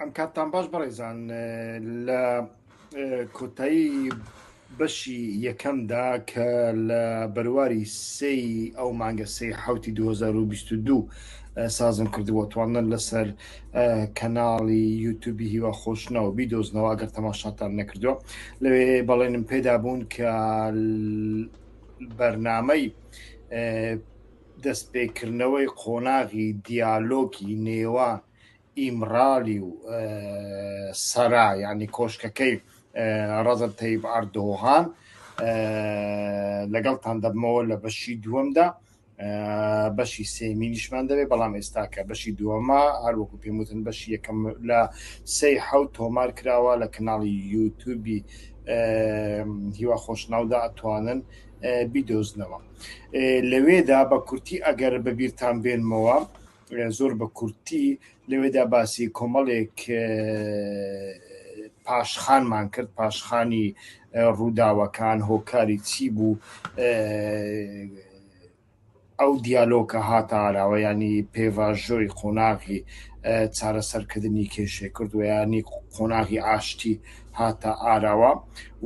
ئەم کاتتان باش بەڕێزان لە کۆتایی بەشی یەکەمدا کە لە بەرواری سی ئەو مانگە سی حوتی 2022 سازم کردبوو توانن لەسەر کەناڵی یوتوبی هیوا خۆشنەوە بیدۆزنەوە گەر تەماشاتان نەکردووە لەوێ بەڵێنم پێدا بوون کە بەرنامەی دەستپێکردنەوەی قۆناغی دیالۆکی نێوان ئیمرالی و سەرا ینی کۆشکەکەی ڕەزب تەیب ئەردۆغان لەگەڵ تاندەبمەوە لە بەشی دووەمدا بەشی سێمی نیشمان دەبێت بەڵام ئێستا کە بەشی دووەمە هەروەکو پێموتن بەشی یەکەم لە سەی حەوت تۆمار کراوە لە کەناڵی یوتوبی هیوا خۆشناودا ئەتوانن بیدۆزنەوە لەوێدا بە کورتی ئەگەر بەبییران بێنمەوە زۆر بە کورتی لەوێدا باسی کۆمەڵێک پاشخانمان کرد پاشخانی ڕووداوەکان هۆکاری چی بوو ئەو دیالۆکە هاتە ئاراوە ینی پێڤژۆی قۆناغی چارەسەرکردنی کێشێ کردویانی قۆناغی ئاشتی هاتە ئاراوە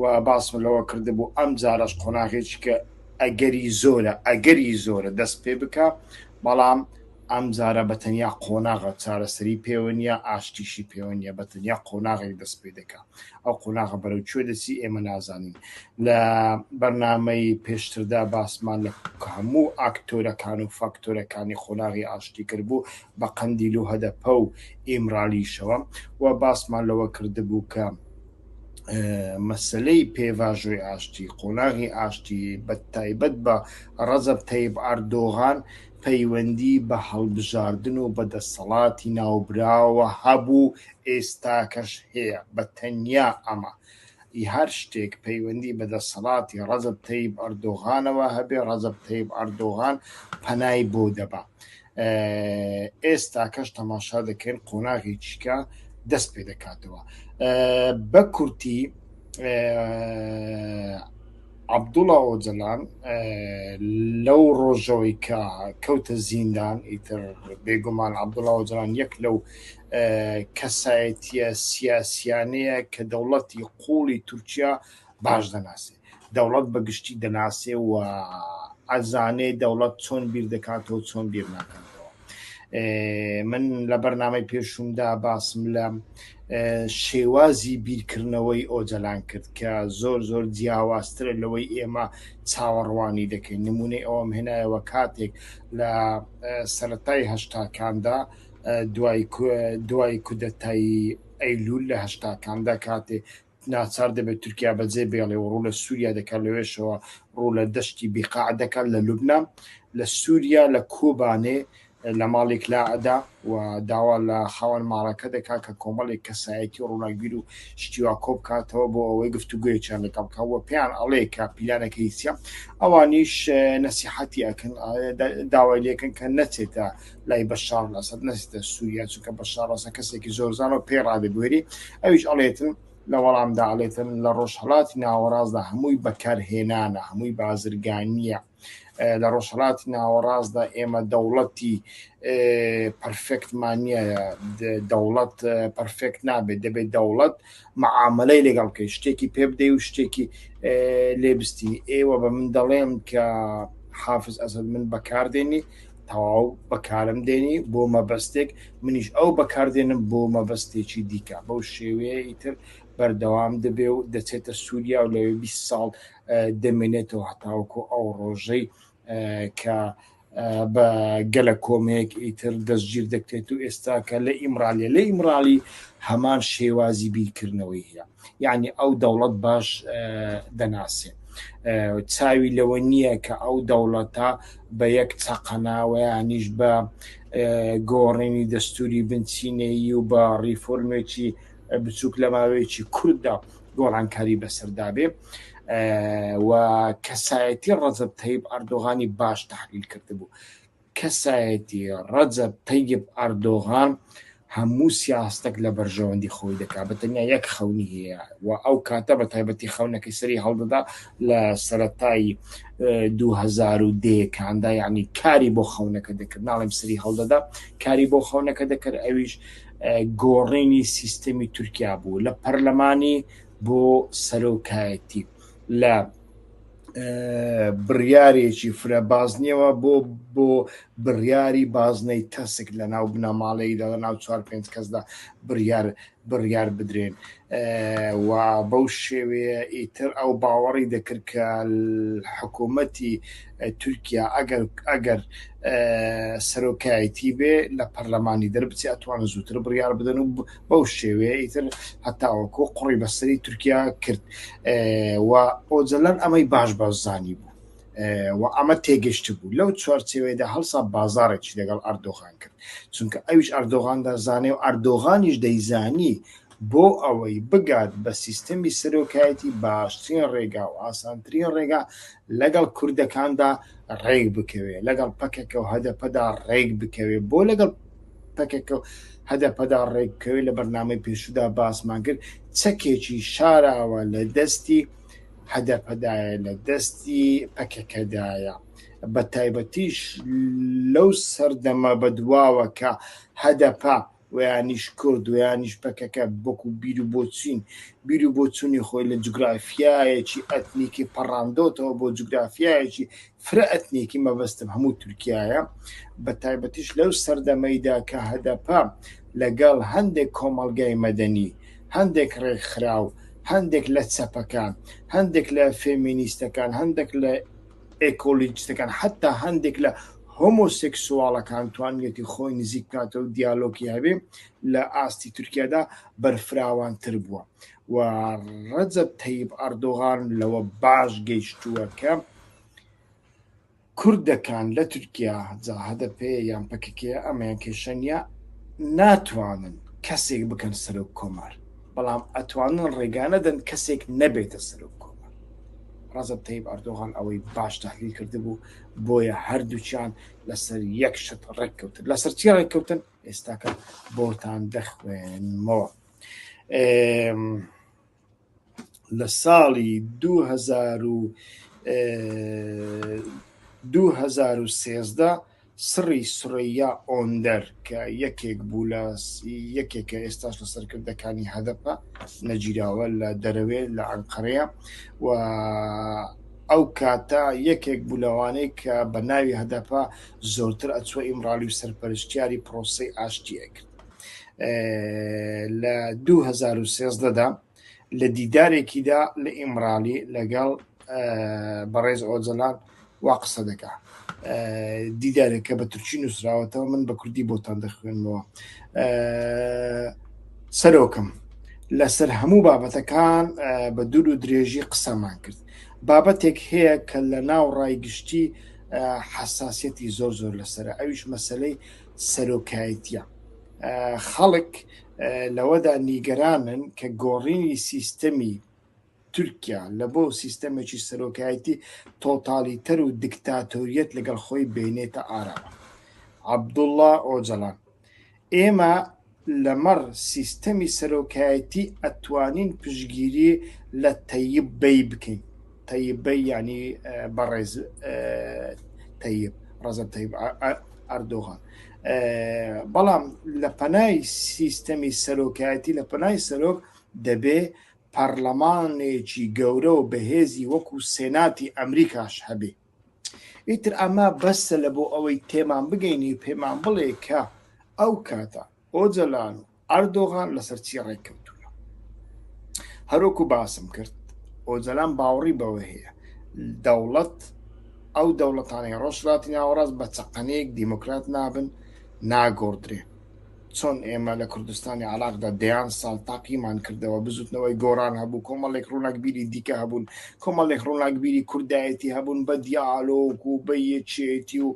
و باسم لەوە کرد بوو ئەم جارەش قۆناغێک کە ئەگەری زۆرە ئەگەری زۆرە دەست پێ بکە بەڵام ئەم جارە بە تەنیا قۆناغە چارەسەری پێوە نییە، ئاشتیشی پێوە نییە، بە تەنیا قۆناغێک دەست پێ دەکا. ئەو قۆناغە بەرەو کوێ دەچی ئێمە نازانین. لە بەرنامەی پێشتردا باسمان لە هەموو ئاکتۆرەکان و فاکتۆرەکانی قۆناغی ئاشتی کردبوو بە قەندیل و هەدەپە و ئیمرالیشەوە و باسمان لەوە کردبوو کە، مەسلەی پێڤژۆی ئاشتی قۆناغی ئاشتی بە تایبەت بە ڕەزب تەیب ئەردۆغان پەیوەندی بە هەڵبژاردن و بە دەسەڵاتی ناوبراوە هەبوو ئێستاکەش هەیە بە تەنیا ئەمە هەر شتێک پەیوەندی بە دەسەڵاتی ڕەزب تەیب ئەردۆغانەوە هەبێ ڕەزب تەیب ئەردۆغان پەنای بۆ دەبا ئێستاکەش تەماشا دەکەین قۆناغی چیکە دەست پێ دەکاتەوە بە کورتی عبدوڵا ئۆجلان لەو ڕۆژەوەی کە کەوتە زیندان ئیتر بێگومان عبدوڵا ئۆجلان یەک لەو کەسایەتە سیاسیانەیە کە دەوڵەتی قوڵی تورکیا باش دەناسێت دەوڵەت بە گشتی دەناسێ و ئەزانێ دەوڵەت چۆن بیر دەکاتەوە چۆن بیر ناکاتەوە من لە بەرنامەی پێشومدا باسم لە شێوازی بیرکردنەوەی ئۆجەلان کرد کە زۆر زۆر جیاوازترە لەوەی ئێمە چاوەڕوانی دەکەین نمونەی ئەوم هێنایەوە کاتێک لە سەتای هەشتاکاندا دوای دوای کودەتایی ئەیلول لە هەشتاکاندا کاتێ ناچار دەبێت تورکیا بەجێ بێڵێ و ڕوو لە سووریا دەکات لەوێشەوە ڕوو لە دەشتی بیقاع دەکات لە لوبنان لە سووریا لە کۆبانێ لە ماڵێک لا ئەدا و داوا لە خاوەن ماڕەکە دەکات کە کۆمەڵێک کەسایەتی و ڕووناکبیر و شتیوا کۆ بکاتەوە بۆ ئەوەی گفتوگویەکیان لەگەڵ بکە وە پێیان ئەڵێ کە پیلانەکە هیچە ئەوانیش نەسیحەتی ئەکەن داوای لێکن کە نەچێتە لای بەشار لەسەد نەسیتە سووریا چونکە بەشار ڕەسە کەسێکی زۆر زانەوە پێی ڕادێ بوێری ئەویش ئەڵێتن لە وەڵامدا ئەڵێتن لە ڕۆژهڵاتی ناوەڕاستدا هەمووی بەکارهێنانە هەمووی بازرگانیە لە ڕۆژهڵاتی ناوەڕاستدا ئێمە دەوڵەتی پرفێکتمانە دەوڵەت پرفێکت نابێت دەبێت دەوڵەت معاملەی لەگەڵ کەی شتێکی پێ بدەی و شتێکی لێبستی ئێوە بە من دەڵێن کە حافز ئەسد من بەکاردێنی تەواو بەکارم دێنی بۆ مەبەستێک منیش ئەو بەکاردێنم بۆ مەبەستێکی دیکە بەو شێوەیە ئیتر بەردەوام دەبێ و دەچێتە سووریا و لەوێ 20 ساڵ دەمێنێتەوە هەتاوکو ئەو ڕۆژەی کە بە گەلە کۆمێک ئیتر دەستگیر دەکرێت و ئێستا کە لە ئیمرالیە لە ئیمرالی هەمان شێوازی بیرکردنەوەی هەیە یعنی ئەو دەوڵەت باش دەناسێ چاوی لەوە نییە کە ئەو دەوڵەتە بە یەک چەقەناوەیانیش بە گۆڕینی دەستوری بنچینەیی و بە ڕیفۆرمێکی بچووک لە ماوەیەکی کورددا گۆڕانکاری بەسەردابێ و کەسایەتی ڕەزب تەیب ئەردۆغانی باش تحلیل کرد بوو کەسایەتی ڕەجەب تەیب ئەردۆغان هەموو سیاستەک لە بەرژەوەندی خۆی دەکات بە تەنیا یەک خەونی هەیە و ئەو کاتە بە تایبەتی خەونەکەی سەری هەڵدەدا لە سەرەتای دو هەزار و دەیەکاندا یعنی کاری بۆ خەونەکە دەکرد ناڵێم سەری هەڵدەدا کاری بۆ خەونەکە دەکرد ئەویش گۆڕینی سیستەمی تورکیا بوو لە پەرلەمانی بۆ سەرۆکایەتی لە بڕیارێکی فرە بازنیەوە بۆ بۆ بڕیاری بازنەی تەسک لە ناو بنەماڵەی لە ناو چوار پێنج کەسدا بڕیار بڕیار بدرێن و بەو شێوەیە ئیتر ئەو باوەڕی دەکرد کە حکوومەتی تورکیا ئەگەر ئەگەر سەرۆکایەتی بێ لە پەرلەمانی دەربچێ ئەتوان زووتر بڕیار بدەن و بەو شێوەیە ئیتر هەتاوەکۆ قڕی بەسەری تورکیا کرد و ئۆجلەن ئەمەی باش بەزانی بوو و ئەمە تێگەشت بوو لەو چوارچێوەیەدا هەڵسا بازارێکی لەگەڵ ئەردۆغان کرد چونکە ئەویش ئەردۆغان دەزانێ و ئەردۆغانیش دەیزانی بۆ ئەوەی بگات بە سیستەمی سەرۆکایەتی باشترین ڕێگا و ئاسانترین ڕێگا لەگەڵ کوردەکاندا ڕێک بکەوێ لەگەڵ پەکەکە و هەدەپەدا ڕێک بکەوێ بۆ لەگەڵ پەکەکە و هەدەپەدا ڕێکبکەوێت، لە بەرنامەی پێشوودا باسمان کرد، چەکێکی شاراوە لە دەستی هەدەپەدایە، لە دەستی پەکەکەدایە. بە تایبەتیش لەو سەردەمە بەدواوە کە هەدەپە ویانیش کورد ویانیش پەکەکە بۆکو بیر و بۆچین بیر و بۆچوونی خۆی لە جوگرافیایەکی ئەتنیکی پەڕاندۆتەوە بۆ جوگرافیایەکی فرە ئەتنیکی مەبەستم هەموو تورکیایە، بەتایبەتیش لەو سەردەمەیدا کە هەدەپە لەگەڵ هەندێک کۆمەڵگای مەدەنی، هەندێک ڕێکخراو، هەندێک لە چەپەکان، هەندێک لە فێمینیستەکان، هەندێک لە ئێکۆلیجتەکان، حەتا هەندێک لە هۆمۆسێکسواڵەکان توانیویەتی خۆی نزیک بکاتەوە و دیالۆکی هەبێ لە ئاستی تورکیادا بەرفراوانتر بووە و ڕەجەب تەیب ئەردۆغان لەوە باش گەیشتووە کە کوردەکان لە تورکیا جا هەدەپە یان پەکەکە ئەمەیان کێشە نیە ناتوانن کەسێک بکەن سەرۆک کۆمار بەڵام ئەتوانن ڕێگانەدەن کەسێک نەبێتە سەرۆک کۆمار ڕزب تەیب ئەردۆغان ئەوەی باش تحلیل کردبوو بۆیە هەردووچیان لەسەر یەک شت ڕێککەوتن لەسەر چی ڕێککەوتن ئێستاکە بۆتان دەخوێنمەوە. لە ساڵی دوو هەزار و دوو هەزار و سێزدە سڕی سورەیا ئۆندەر کە یەکێک بوو لە یەکێکە ئێستاش لە سەرکردەکانی هەدەپە نەگیراوە لە دەرەوێ لە ئەنقەرەیە و ئەو کاتە یەکێک بوو لەوانەیە کە بە ناوی هەدەپە زۆرتر ئەچوە ئیمڕالی و سەرپەرشتیاری پرۆسەی ئاشتیەکرد لە 2013دا لە دیدارێکیدا لە ئیمرالی لەگەڵ بەڕێز ئۆجلان وا قسە دەکا دیدارێکە بە تورکی نووسراوەتەوە من بە کوردی بۆتان دەخوێنمەوە سەرۆکم لەسەر هەموو بابەتەکان بە دوور و درێژی قسەمان کرد بابەتێک هەیە کە لە ناو ڕای گشتی حساسەتی زۆر زۆر لەسرە ئەویش مەسلەی سەرۆکایەتیە خەڵک لەوەدا نیگەرانن کە گۆڕینی سیستەمی تورکیا لە بۆ سیستەمێکی سەرۆکایەتی تۆتالیتەر و دکتاتۆریەت لەگەڵ خۆی بینێتە ئاراوە عبدوڵڵا ئۆجەڵان ئێمە لەمەڕ سیستەمی سەرۆکایەتی ئەتوانین پشگیری لە تەیب بەی بکەین تەیب بەی یعنی بەڕێز تەیب ڕزە تەیب ئەردۆغان بەڵام لە پەنای سیستەمی سەرۆکایەتی لە پەنای سەرۆک دەبێ پەرلەمانێکی گەورە و بەهێزی وەکو سێناتی ئەمریکاش هەبێ ئیتر ئەمە بەسە لە بۆ ئەوەی تێمان بگەینی پێمان بڵێ کە ئەو کاتە ئۆجەلان و ئەردۆغان لەسەر چی ڕێککەوتونە هەرۆکو باسم کرد ئۆجەلان باوەڕی بەوە هەیە دەوڵەت ئەو دەوڵەتانەی ڕۆژلاتی ناوەڕاست بە چەقەنەیەک دیموکرات نابن ناگۆڕدرێن چۆن ئێمە لە کوردستانی عراقدا دەیان ساڵ تاقیمان کردەوە بزوتنەوەی گۆران هەبوو کۆمەڵێک ڕووناکبیری دیکە هەبوون کۆمەڵێک ڕووناکبیری کوردایەتی هەبوون بە دیالۆک و بە یەکێتی و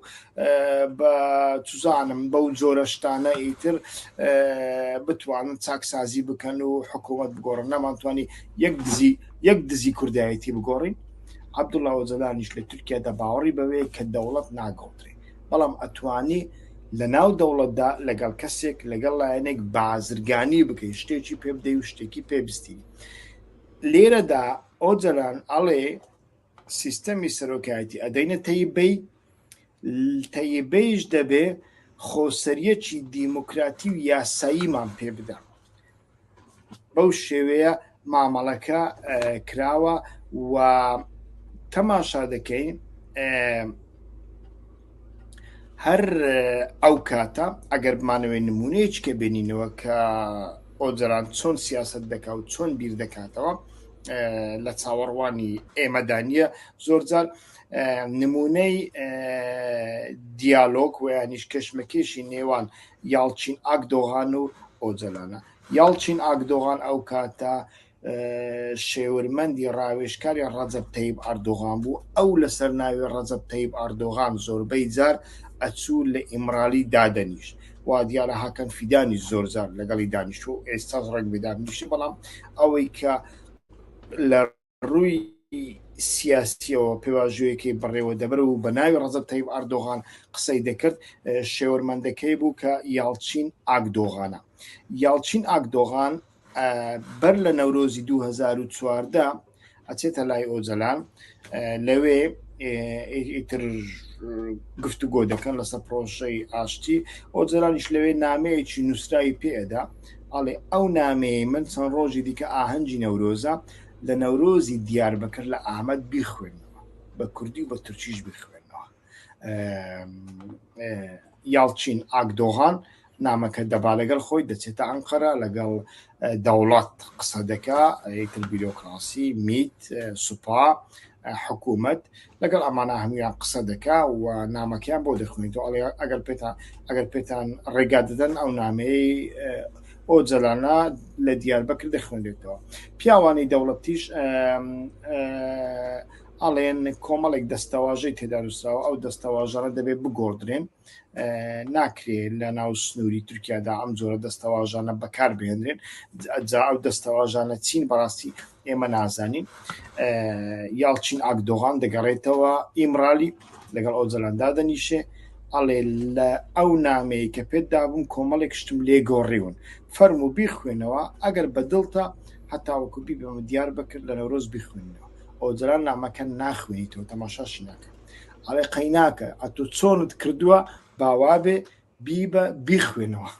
بە توزانم بەو جۆرەشتانە ئیتر بتوانن چاکسازی بکەن و حکوومەت بگۆڕن نەمانتوانی یەک دزی یەک دزی کوردایەتی بگۆڕین عبدوڵاوە جەلانیش لە تورکیادا باوەڕی بەوەیە کە دەوڵەت ناگۆڕێت بەڵام ئەتوانی لە ناو دەوڵەتدا لەگەڵ کەسێک لەگەڵ لایەنێک بازرگانی بکەیت شتێکی پێ بدەی و شتێکی پێبستی لێرەدا ئۆجەلان ئەڵێ سیستەمی سەرۆکایەتی ئەدەینە تەیبەی تەیبەیش دەبێ خۆسەریەکی دیموکراتی و یاساییمان پێ بدە بەو شێوەیە مامەڵەکە کراوە و تەماشا دەکەین هەر ئەو کاتە ئەگەر بمانەوەی نمونەیەکی کە بێنینەوە کە ئۆجران چۆن سیاست دەکا و چۆن بیر دەکاتەوە لە چاوەڕوانی ئێمەدانە زۆرجار نمونەی دیالۆک ویانیش کەشمەکێشی نێوان یاڵچین ئاکدۆغان و ئۆجەلانە. یاڵچین ئاکدۆغان ئەو کاتە شێورمەندی ڕاوێژکاری ڕەجەب تەیب ئاردۆغان بوو، ئەو لەسەر ناوی ڕەجەب تەیب ئاردۆغان زۆربەی جار ئەچوو لە ئیمرالی دادەنیشت، وا دیارە هاکان فیدانیش زۆر جار لەگەڵی دانیشتووە و ئێستاش ڕەنگبێ دابنیشێ، بەڵام ئەوەی کە لە. ڕووی سیاسیەوە پێواژۆیەکەی بەڕێوە دەبرد و بە ناوی ڕەزەب تەیب ئاردۆغان قسەی دەکرد، شێورمەندەکەی بوو کە یاڵچین ئاکدۆغانە. یاڵچین ئاکدۆغان بەر لە نەورۆزی 2014 ئەچێتە لای ئۆجەلان لەوێ ئیتر گفتوگۆ دەکەن لەسەر پرۆژەی ئاشتی ئۆجەلانیش لەوێ نامەیەکی نووسراوی پێدا ئەڵێ ئەو نامەیە من چەند ڕۆژی دیکە ئاهەنگی نەورۆزە لە نەورۆزی دیاربەکر لە ئامەد بیخوێنەوە بە کوردی و بە تورکیش بیخوێنەوە یاڵچین ئاگدۆغان نامەکە دەبا لەگەڵ خۆی دەچێتە ئەنقەرە لەگەڵ دەوڵات قسە دەکا ئەیتر بیرۆکراسی میت سوپا حکومەت لەگەڵ ئەمانە هەموویان قسە دەکا و نامەکەیان بۆ دەخوێنیتەوە ئەڵێ ئەگەر پێتان ئەگەر پێتان ڕێگا دەدەن ئەو نامەیەی ئەو جەلانە لە دیاربەکر دەخوێنێتەوە پیاوانی دەوڵەتیش ئەڵێن کۆمەڵێک دەستەواژەی تێدانووسراوە ئەو دەستەواژەڕە دەبێت بگۆدرێن ناکرێ لە ناو سنووری تورکیادا ئەم جۆرە دەستەواژانە بەکار بهێنرێن جا ئەو دەستەواژانە چین بەڕاستی ئێمە نازانین یاڵچین ئاکدۆغان دەگەڕێتەوە ئیمرالی لەگەڵ ئەو جەلاندا دەنیشێ ئەڵێ لە ئەو نامەیە کە پێت دابووم کۆمەڵێک شتم لێ گۆڕیون فەرم و بیخوێنەوە ئەگەر بەدڵتە هەتاوەکو بی بەمە دیار بکرد لە نەورۆز بیخوێنەوە ئەو جەران نامەکە ناخوێنیتەوە تەماشاشی ناکەن ئەڵێ قەیناکە ئەتو چۆنت کردووە باوابێ بیبە بیخوێنەوە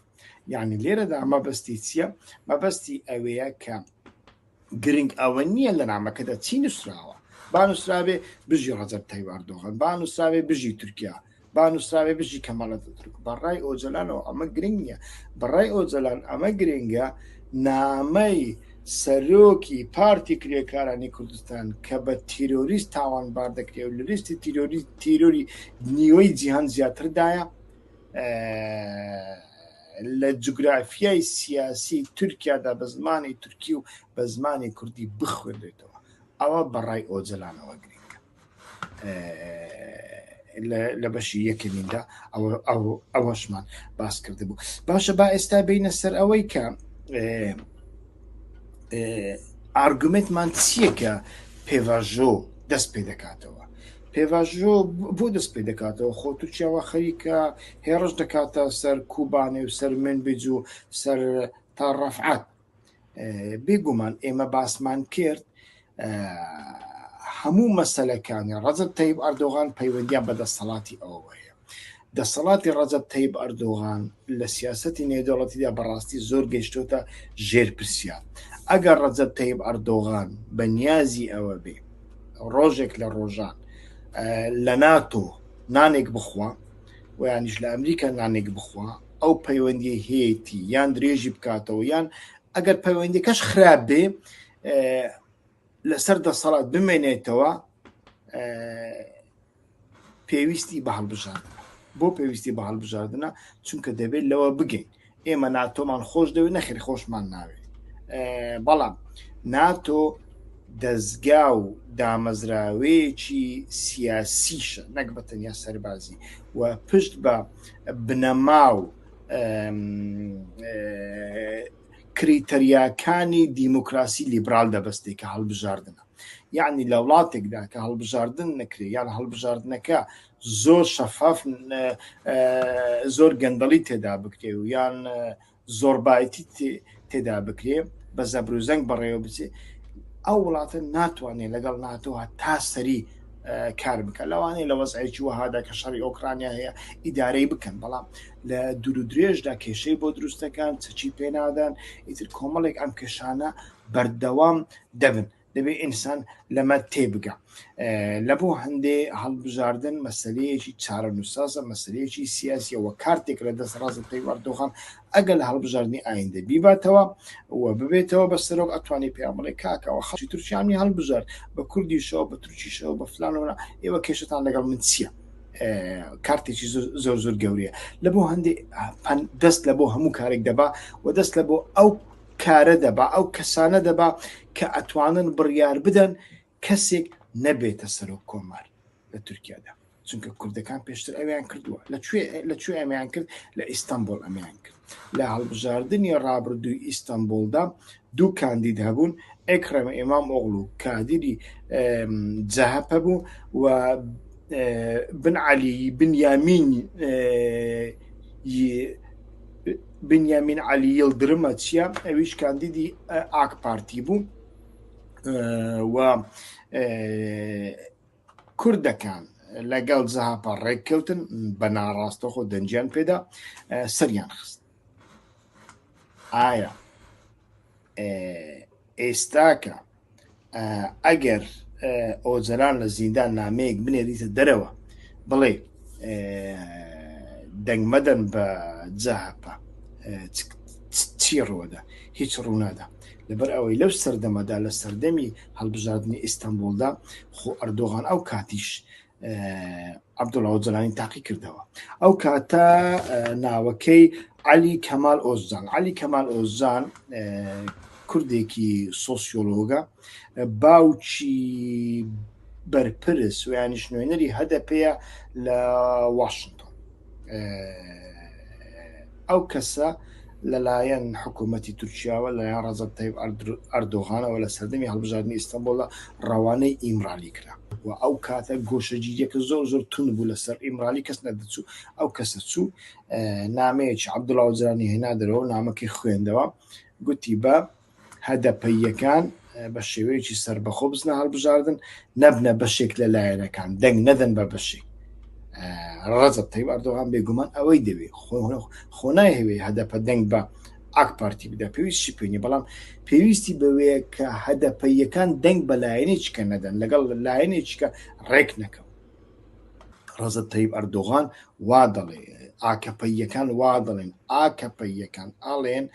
یعنی لێرەدا مەبەستی چییە مەبەستی ئەوەیە کە گرنگ ئەوە نییە لە نامەکەدا چی نووسراوە با نووسراوێ بژی ڕەجەب تایواردۆغن با نووسراوێ بژی تورکیا با نووسراوێ بژی کەمەڵە دەترک بەڕای ئۆجلانەوە ئەمە گرنگ نییە بەڕای ئۆجلان ئەمە گرنگە نامەی سەرۆکی پارتی کرێکارانی کوردستان کە بە تیرۆریست تاوانبار دەکرێت و لە لیستی تیرۆری تیرۆری نیوەی جیهان زیاتردایە لە جوگرافیای سیاسی تورکیادا بە زمانی تورکی و بە زمانی کوردی بخوێنێتەوە ئەوە بەڕای ئۆجەلانەوە گرنگە لە بەشی یەکەمیندا ئەوەشمان باس کرد بوو باشە با ئێستا بینە سەر ئەوەی کە ئارگومنتمان چییە کە پێڤژۆ دەست پێ دەکاتەوە پێڤژۆ بۆ دەست پێ دەکاتەوە خۆ تورکیاوە خەریکە هێڕش دەکاتە سەر کوبانێ و سەر من بجو سەر تا ڕفعات بێگومان ئێمە باسمان کرد هەموو مەسلەکانی ڕەزب تەیب ئەردۆغان پەیوەندیان بە دەسەڵاتی ئەوە هەیە دەسەڵاتی ڕەزب تەیب ئەردۆغان لە سیاستی نێودەوڵەتیدا بەڕاستی زۆر گەشتۆتە ژێر پرسیار ئەگەر ڕەزب تەیب ئەردۆغان بە نیازی ئەوە بێ ڕۆژێک لە ڕۆژان لە ناتۆ نانێک بخوا و یانیش لە ئەمریکا نانێک بخوا ئەو پەیوەندی هەیەی یان درێژی بکاتەوە یان ئەگەر پەیوەندەکەش خراپ بێ لەسەر دەسەڵات بمێنێتەوە پێویستی بە هەڵبژاردن بۆ پێویستی بە هەڵبژاردنە چونکە دەبێت لەوە بگەین ئێمە ناتۆمان خۆش دەوێت نەخیر خۆشمان ناوێت بەڵام ناتۆ دەستگا و دامەزراوەیەکی سیاسیشە نەک بە تەنیا سەربازی و پشت بە بنەما و کریتەریاکانی دیموکراسی لیبرال دەبستێک کە هەڵبژاردنە یعنی لە وڵاتێکدا کە هەڵبژاردن نەکرێ یان هەڵبژاردنەکە زۆر شەفاف زۆر گەندەڵی تێدا بکرێ و یان زۆربایتی تێدا بکرێ بە زەبروزەنگ بەڕێوە بچێ ئەو وڵاتە ناتوانێت لەگەڵ ناتۆها تا سەری کار بکە لەوانەیە لە وەزعێکی وەهادا کە شەڕی ئۆکرانیا هەیە ئیدارەی بکەن بەڵام لە دوور درێژدا کێشەی بۆ دروستەکان چەچی پێنادان ئیتر کۆمەڵێک ئەم کێشانە بەردەوام دەبن دەبێت ئینسان لەمە تێبگا لە بۆ هەندێ هەڵبژاردن مەسلەیەکی چارە نووسازە مەسلەیەکی سیاسیەوە کارتێک لە دەست ڕازە پێیواردۆخان ئەگەل هەڵبژاردننی ئایندە بیباتەوە و ببێتەوە بە سەرۆک ئەتوانی پێمەڵێ کاکەوە خەڵکی تورکیانی هەڵبژارد بە کوردیشەوە بە تورکیشەوە بە فلانەوە ئێوە کێشتان لەگەڵ من چییە؟ کارتێکی زۆر زۆر گەورەیە لە بۆ هەندێک دەست لە بۆ هەموو کارێک دەبا و دەست لە بۆ ئەو کارە دەبا ئەو کەسانە دەبا کە ئەتوانن بڕیار بدەن کەسێک نەبێتە سەرۆک کۆمار لە تورکیادا چونکە کوردەکان پێشتر ئەویان کردووە لەکوێ لەکوێ ئەمیان کرد لە ئیستانبول ئەمیان کرد لە هەڵبژاردننی ڕابردووی ئیستانبولدا دوو کاندید هەبوون ئەکرەمە ئێمام ئۆغڵ و کادیری جەهەپە بوو و بن علی بن یامین بنیامین عەلی یڵدرمە چیە ئەویش کاندیدی ئاک پارتی بوو و کوردەکان لەگەڵ زەهاپە ڕێککەوتن بە ناڕاستەخۆ دەنجیان پێدا سەریان خست ئایا ئێستاکە ئەگەر ئۆجەلان لە زیندان نامەیەک بنێریتە دەرەوە بڵێ دەنگمەدەن بە جاهپە چی ڕوەدا هیچ ڕوونادا لەبەر ئەوەی لەو سەردەمەدا لە سەردەمی هەڵبژاردننی ئیستانبولدا خۆ ئەردۆغان ئەو کاتیش عبدوڵاو جلانی تاقی کردەوە ئەو کاتە ناوەکەی علی کەمال ئۆزان علی کەمال ئۆزان کوردێکی سۆسیۆلۆگە باوچی بەرپرس ویانیش نوێنەری هەدە پێەیە لە واشنگتۆن ئەو کەسە لەلایەن حکوومەتتی تورکیاوە لەلایەن ڕزب تەیب ئەردۆغانەوە لە سەردەمی هەڵبژاردننی ئیستەنبولدا ڕەوانەی ئیمرالی کرا و ئەو کاتە گۆشەگیریەکە زۆر زۆر تون بوو لەسەر ئیمرالی کەس نەدەچوو ئەو کەسە چوو نامەیەکی عبدوڵاوجرانی هێنا دەرەوە نامەکەی خوێندەوە گوتی بە هەدەپەییەکان بە شێوەیەکی سەربەخۆ بزنە هەڵبژاردن نەبنە بەشێک لە لایەنەکان دەنگ نەدەن بە بەشێک ڕەزب تەی ئەردۆغان بێگومان ئەوەی دەوێت خۆنای هەوێ هەدەپە دەنگ بە ئاک پارتی بدا پێویستی پێنی بەڵام پێویستی بەوەیە کە هەدەپەیەکان دەنگ بە لایەنێککە نەدەن لەگەڵ لایەنێککە ڕێک نەکەم ڕەزت تەیب ئەردۆغان وا دەڵێ ئاکەپەیەکان وا دەڵێن ئاکەپەیەکان ئاڵێن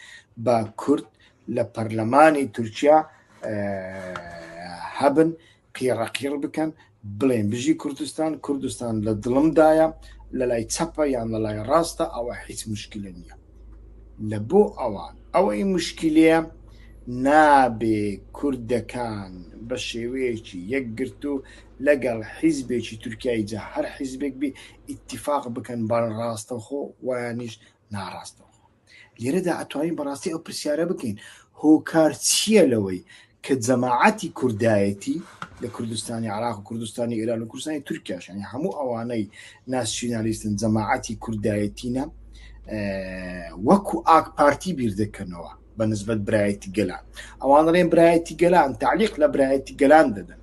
بە کورد لە پەرلەمانی تورکیا هەبن قیڕەقیڕ بکەن بڵێن بژی کوردستان کوردستان لە دڵمدایە لە لای چەپە یان لە لای ڕاستە ئەوە هیچ مشکلە نییە لە بۆ ئەوان ئەوەی مشکیلەیە نابێ کوردەکان بە شێوەیەکی یەکگرتوو لەگەڵ حیزبێکی تورکیای جا هەر حیزبێک بێ ئیتیفاق بکەن بە ڕاستەوخۆ وایانیش ناڕاستەوخۆ لێرەدا ئەتوانین بەڕاستی ئەو پرسیارە بکەین هۆکار چییە لەوەی کە جەماعەتی کوردایەتی لە کوردستانی عراق و کوردستانی ئێران و کوردستانی تورکیاش یانی هەموو ئەوانەی ناسیونالیستن جەماعەتی کوردایەتینە وەکو ئاک پارتی بیر دەکەنەوە بە نسبت برایەتی گەلان ئەوان ڕێن برایەتی گەلان تعلیق لە برایەتی گەلان دەدەن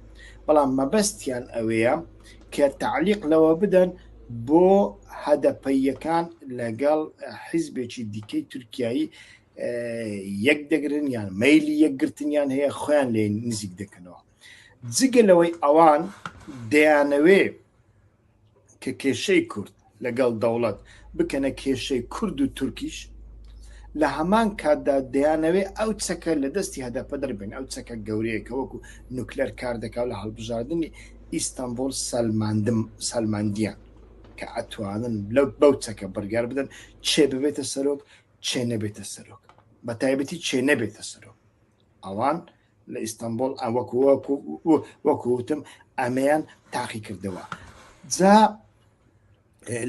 بەڵام مەبەستیان ئەوەیە کە تعلیق لەوە بدەن بۆ هەدەپەیەکان لەگەڵ حیزبێکی دیکەی تورکایی یەک دەگرن یان مەلی یەکگرتنیان هەیە خۆیان لێ نزیک دەکەنەوە جگە لەوەی ئەوان دەیانەوێ کە کێشەی کورد لەگەڵ دەوڵەت بکەنە کێشەی کورد و تورکیش لە هەمان کاتدا دەیانەوێ ئەو چەکە لە دەستی هەدەپە دەربن ئەو چەکە گەورەیەکە وەکو نوکلەر کار دەکات لە هەڵبژاردننی ئیستانبول سەلماندم سەلماندیان کە ئەتوانن لەو بەو چەکە بڕگار بدەن چێ ببێتە سەرۆک چێ نەبێتە سەرۆک بە تایبەتی چێ نەبێتە سەرۆک ئەوان لە ئیستانبول ئەوەکو وەکوتم ئەمەیان تاقی کردەوە جا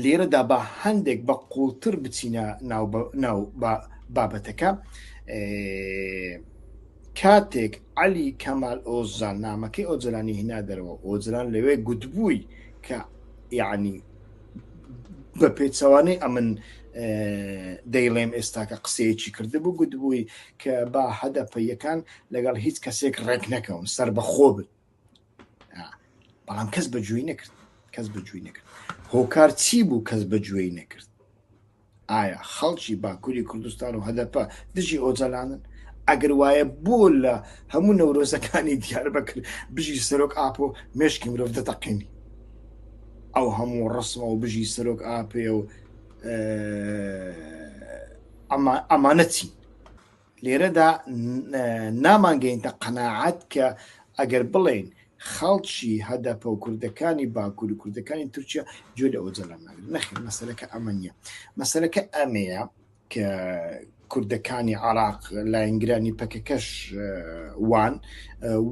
لێرەدا بە هەندێک بە قوڵتر بچینە ناو ناو بابەتەکە کاتێک علی کەمال ئۆزان نامەکەی ئۆجرانی هینا دەرەوە ئۆجران لەوێ گوتبووی کە یعنی بە پێچەوانەی ئەمن دەیڵێم ئێستاکە قسەیەکی کردبوو گوتبووی کە با هەدەپەیەکان لەگەڵ هیچ کەسێک ڕێک نەکەون سەر بەخۆ بن بەڵام کەس بەجووی نەکرد کەس بەجووی نەکرد هۆکار چی بوو کەس بەجوێی نەکرد ئایا خەڵکی باکوری کوردستان و هەدەپە دژی ئۆجەلانن؟ ئەگەر وایە بۆ لە هەموو نەورۆزەکانی دیاربەکر بژی سەرۆک ئاپۆ مێشکی مرۆڤ دەتەقێنی ئەو هەموو ڕسمە و بژی سەرۆک ئاپێ و ئەمانەتی لێرەدا نامانگەینتە قەناعەت کە ئەگەر بڵێین خەڵکی هەدەپە و کوردەکانی باکوور و کوردەکانی تورکیا جۆ لە ئۆجەلان ناگرن نەخێ مەسەرەکە ئەمە نییە مەسەرەکە ئەمەیە کە کوردەکانی عراق لاینگرانی پەکەکەش وان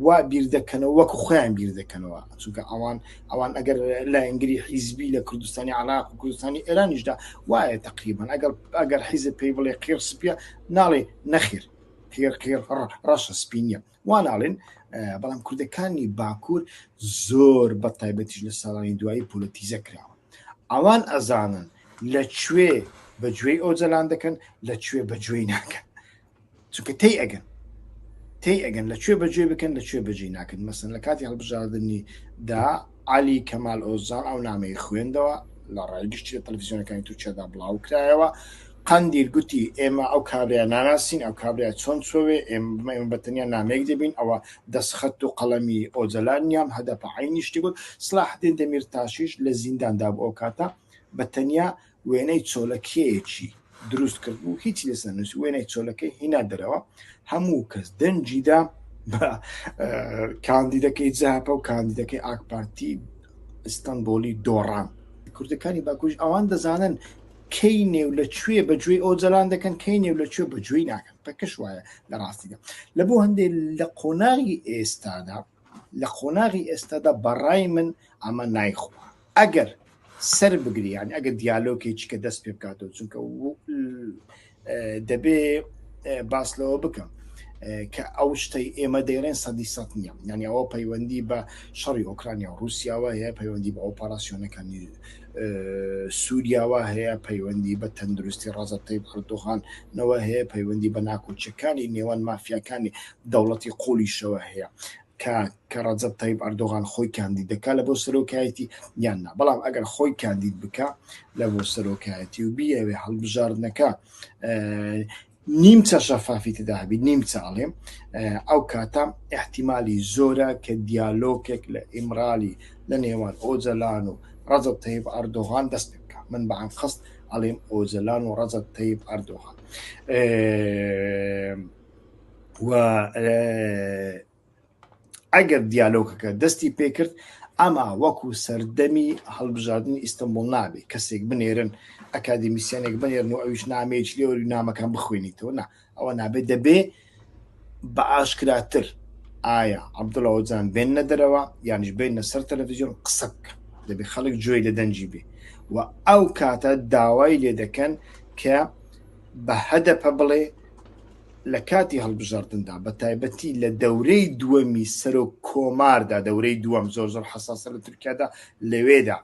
وا بیر دەکەنەوە وەک خۆیان بیر دەکەنەوە چونکە ئەوان ئەوان ئەگەر لاینگری حیزبی لە کوردستانی عراق و کوردستانی ئێرانیشدا وایە تقریبان ئەگەر ئەگەر حیزب پێی بڵێ قیڕ سپە ناڵێ نەخێر قێر قێر ڕەشە سپی نییە وا ناڵێن بەڵام کوردەکانی باکوور زۆر بە تایبەتیش لە ساڵانی دوایی پۆلەتیزە کراوە ئەوان ئەزانن لە کوێ بەگوێی ئەو جەلان دەکەن لە کوێ بەگوێی ناکەن چونکە تی ئەگەن تی ئەگەن لە کوێ بەگوێ بکەن لە کوێ بەجێ ناکەن مەسن لە کاتی هەڵبژاردننی دا عالی کەمال ئۆزان ئەو نامەی خوێندەوە لە ڕای گشتی لە تەلویزیۆنەکانی تورکیادا بڵاو کرایەوە قەندیل گوتی، ئێمە ئەو کابرایە ناناسین، ئەو کابرایە چۆن چۆوێ، ئێمە بە تەنیا نامەیەک دەبین، ئەوە دەسخەت و قەڵەمی ئۆجەلان نییە، ئەم هەدەپە عەینی شتی گوت. سڵاحەدین دەمیرتاشیش لە زینداندا بوو، ئەو کاتە بە تەنیا وێنەی چۆلەکێیەکی دروست کردبوو، هیچی لەسەر نەنووسیبوو، وێنەی چۆلەکەی هینا دەرەوە، هەموو کەس دەنگی دا بە کاندیدەکەی جەهەپە و کاندیدەکەی ئاکپارتی ئیستەنبۆڵی دۆڕان. کوردەکانی باکووریش ئەوان دەزانن کەی نێو لە کوێ بە گوێی ئۆجەلان دەکەن کەی نێو لە کوێ بە گوێی ناکەن پەکەش وایە لە ڕاستیدا لە بۆ هەندێ لە قۆناغی ئێستادا لە قۆناغی ئێستادا بەڕای من ئەمە نایخۆ ئەگەر سەر بگریان ئەگە دیالۆکێکی کە دەست پێ بکاتەوە چونکە دەبێ باس لەوە بکەم کە ئەو شتەی ئێمە دەیڵێن سەدی سە نیە یعنی ئەوە پەیوەندی بە شەڕی ئۆکرانیا و رووسیاوە هەیە پەیوەندی بە ئۆپاراسیۆنەکانی سووریاوە هەیە پەیوەندی بە تەندروستی ڕازەتەی بڕدۆغانەوە هەیە پەیوەندی بە ناکۆچەکانی نێوان مافیاکانی دەوڵەتی قۆلیشەوە هەیە کە کە ڕەجەب تەیب ئەردۆغان خۆی کاندید دەکا لە بۆ سەرۆکایەتی یان نا بەڵام ئەگەر خۆی کاندید بکە لە بۆ سەرۆکایەتی و بیەوێ هەڵبژاردنەکە نیمچە شەفافی تدا هەبی نیم چاڵێم ئەو کاتە احتیممالی زۆرە کە دیالۆکێک لە ئیمرالی لە نێوان ئۆجەلان و ڕەزب تەیب ئەردۆغان دەست پێ بکە من بەعام خست ئەڵێم ئۆجەلان و ڕەزب تەیب ئەردۆغان و ئەگەر دیالۆکەکە دەستی پێکرد ئەما وەکو سەردەمی هەڵبژاردننی ئیستنبول نابێت کەسێک بنێرن ئەکادمیسیانێک بنێرن و ئەویش نامەیەک لێوە نامەکان بخوێنیتەوە نا ئەوە نابێت دەبێ بە ئاشکراتر ئایا عبدڵەوەجان بێنە دەرەوە یانش بێنە سەر تەلەڤزیۆن قسە بکە دەبێ خەڵک جوێی لە دەنجی بێ و ئەو کاتە داوای لێ دەکەن کە بە هەدەپە بڵێ لە کاتی هەڵبژاردندا بە تایبەتی لە دەورەی دووەمی سەرۆک کۆماردا دەورەی دووەم زۆر زۆر حساسە لە تورکیادا لەوێدا